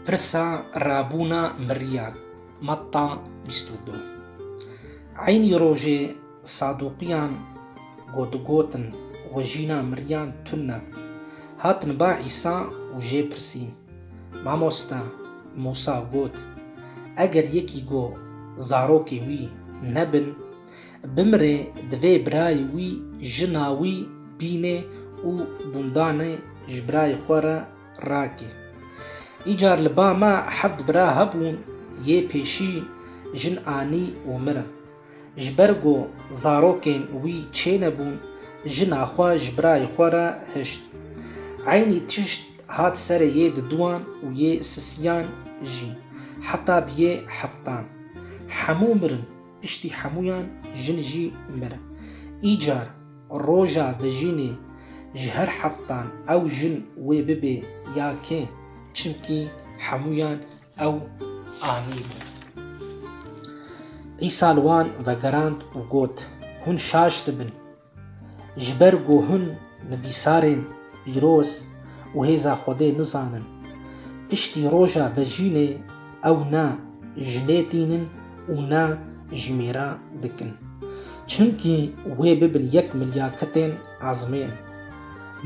Pirsa rabûna mirîyan Matta bîst û du Eynî rojê Saduqiyan ku digotin wejîna mirîyan tund e, hatin ba Îsa û jê pirsîn, Mamoste, Mûsa got, Eger yekî ku zarokê wî nebin, Bimire divê birayê wî, jina wî bînê û dundanê ji birayê xwe re rake. Îcar li ba me heft bira hebûn, yê pêşî jin anî û mirin. Ji ber ku zarokên wî çênebûn, jina xwe ji birayê xwe re hişt. Eynî tişt hat serê yê diduwan û yê sisiyan jî, heta biyê heftan. Hemû mirin. Piştî hemûyan jin jî mir. Îcar roja vejînê ji her heftan ew jin wê bibê ya kê çimkî hemûyan ew anîbû. Îsa li wan vegerand û got, Hûn şaş dibin. Ji ber ku hûn nivîsarên pîroz û hêza Xwedê nizanin, piştî roja vejînê ew ne ji lê tînin û ne jî mêra dikin. Çimkî wê bibin yek milya kitên ezmên.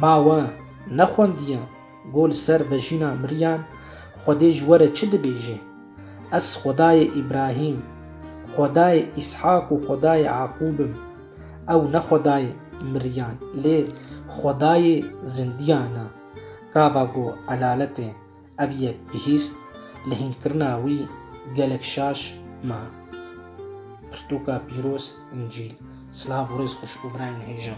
Ma we ne xwendiye? Go li ser vejîna miriyan Xwedê ji we re çi dibêje? Ez Xwedayê Îbrahîm, Xwedayê Îshak û Xwedayê Eqûb im. Ew ne Xwedayê miriyan, lê Xwedayê zindiyan e. Gava ku elaletê ev yek bihîst, li hînkirina wî gelek şaş ma. Pirtûka pîroz, Încîl. Silav û rêz xweş û birayên hêja.